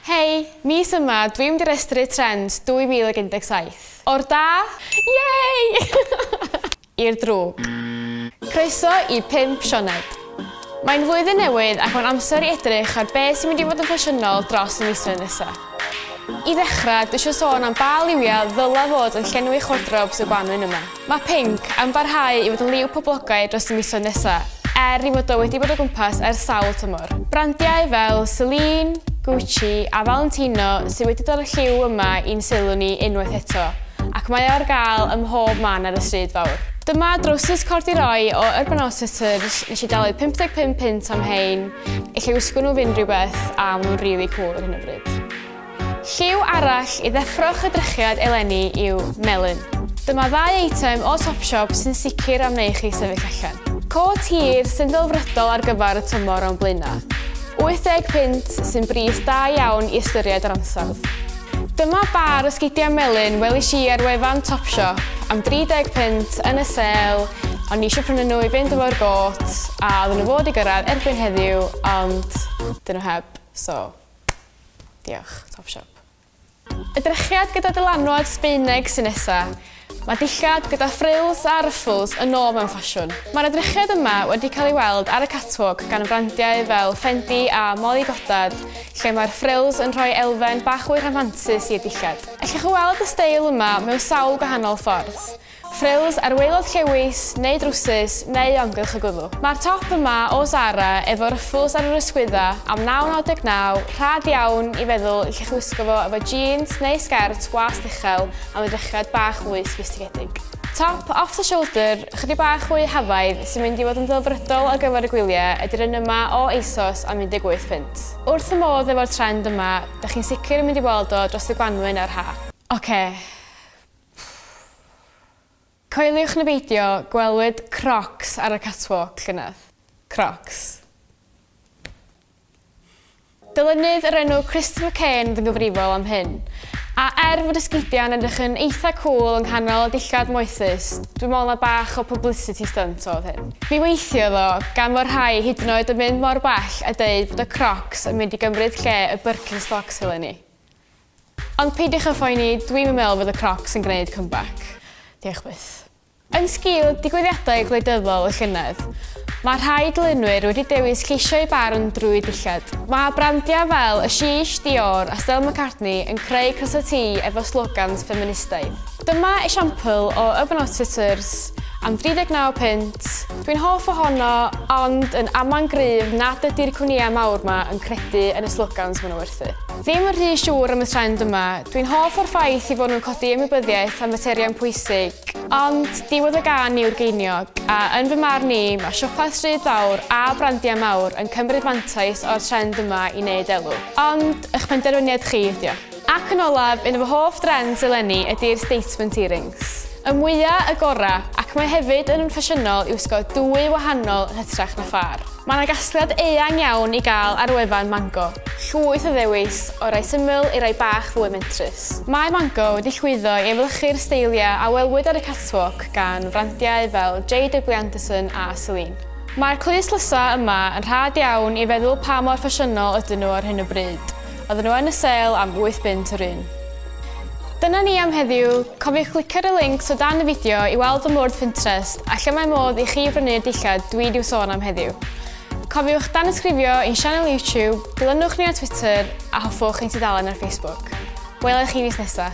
Hei! Mis yma, dwi'n mynd i restru Trends 2017. O'r da! Yay! I'r drwg. Croeso i Pump Sioned. Mae'n flwyddyn newydd ac mae'n amser i edrych ar be sy'n mynd i fod yn ffasiynol dros y misoedd nesa. I ddechrau, dwi eisiau sôn am ba liwiau ddyla fod yn llenwi chwardrobs y gwanwyn yma. Mae Pink yn parhau i fod yn liw poblogaidd dros y misoedd nesaf, er ei fod o wedi bod o gwmpas ers sawl tymor. Brandiau fel Celine, Gucci a Valentino sydd wedi dod â'r lliw yma i'n sylw ni unwaith eto, ac mae o ar gael ym mhob man ar y stryd fawr. Dyma drowsus cordiroy o Urban Outfitters, nes i dalu 55 punt am hein, ella wisgo nhw fy unrhyw beth a maen nhw'n rili cwl ar hyn o bryd. Lliw arall i ddeffro'ch edrychiad eleni yw melyn. Dyma ddau eitem o Topshop sy'n sicr am wneud chi sefyll allan. Côt hir sy'n ddelfrydol ar gyfer y tymor o'n blaenau. £80 sy'n bris da iawn i ystyried yr ansawdd. Dyma bâr o sgidiau melyn welish i ar wefan Topshop am £30 yn y sêl o'n i eisiau prynu nhw i fynd efo'r gôt a oedden nhw fod i gyrraedd erbyn heddiw ond 'dyn nhw heb so Diolch, top siop. Y drechiad gyda dylanwad Sbaeneg sy'n nesa. Mae dillad gyda frills a ruffles yn ôl mewn ffasiwn. Mae'r edrychiad yma wedi cael ei weld ar y catwalk gan frandiau fel Fendi a Molly Goddard, lle mae'r frills yn rhoi elfen bach fwy rhamhantus i'r dillad. Allwch chi weld y steil yma mewn sawl gwahanol ffordd. Frills ar waelod llewys neu drwsus neu o amgylch y gwddw. Mae'r top yma o Zara efo ryffls ar yr ysgwydda am 9.99, rhad iawn i feddwl i chi chwisgo fo efo jîns neu sgert wast uchel am edrychiad bach mwy soffistigedig. Top off the shoulder ychydig bach fwy hafaidd sy'n mynd i fod yn ddelfrydol ar gyfer y gwyliau ydy'r un yma o ASOS am 18 punt. Wrth fy modd efo'r trend yma, dych chi'n sicr yn mynd i weld o dros y gwanwyn a'r ha. Ocê. Coeliwch neu beidio, gwelwyd Crocs ar y catwalk llynedd. Crocs. Dylunydd o'r enw Christopher Cain oedd yn gyfrifol am hyn. A er fod esgidiau'n edrych yn eitha cŵl yng nghanol y dillad moethus, dwi'n meddwl na bach o publicity stunt oedd hyn. Mi weithiodd o, gan fod rhai hyd yn oed yn mynd mor bell a deud bod y Crocs yn mynd i gymryd lle y Birkenstocks eleni. Ond peidiwch â phoeni, dwi'm yn meddwl fydd y Crocs yn gwneud comeback. Diolch byth. Yn sgil digwyddiadau gwleidyddol y llynedd, mae rhai dylunwyr wedi dewis ceisio eu barn drwy dillad. Mae brandiau fel y Sheesh, Dior a Stella McCartney yn creu crysau T efo slogans ffeministaidd. Dyma esiampl o Urbanot Fitters am 39 punt, dwi'n hoff ohono ond yn amau'n gryf nad ydy'r cwmnïau mawr 'ma yn credu yn y slogans maen nhw werthu. Ddim yn rhy siŵr am y trend yma. Dwi'n hoff o'r ffaith ei fod nhw'n codi ymwybyddiaeth am faterion pwysig, ond diwedd y gan yw'r geiniog, a yn fy marn i, mae siopau stryd fawr a brandiau mawr yn cymryd mantais o'r trend yma i wneud elw. Ond, eich penderfyniad chi ydy o. Ac yn olaf, un o fy hoff drends eleni ydy'r statement earrings. Y mwya', y gora', ac mae hefyd yn ffasiynol i wisgo dwy wahanol yn hytrach na phâr. Mae yna gasgliad eang iawn i gael ar wefan Mango. Llwyth o ddewis, o rai syml i rai bach fwy mentrus. Mae Mango wedi llwyddo i efelychu'r steiliau a welwyd ar y catwalk gan frandiau fel JW Anderson a Celine. Mae'r clust lysau yma yn rhad iawn i feddwl pa mor ffasiynol ydyn nhw ar hyn o bryd. Oedden nhw yn y sale am wyth bunt yr un. Dyna ni am heddiw, cofiwch glicio ar y links o dan y fideo i weld fy mwrdd Pinterest a lle mae modd i chi brynu'r dillad dwi i'w sôn am heddiw. Cofiwch danysgrifio i'n sianel YouTube, dilynwch ni ar Twitter a hoffwch ein tudalen ar Facebook. Wela i chi fis nesa.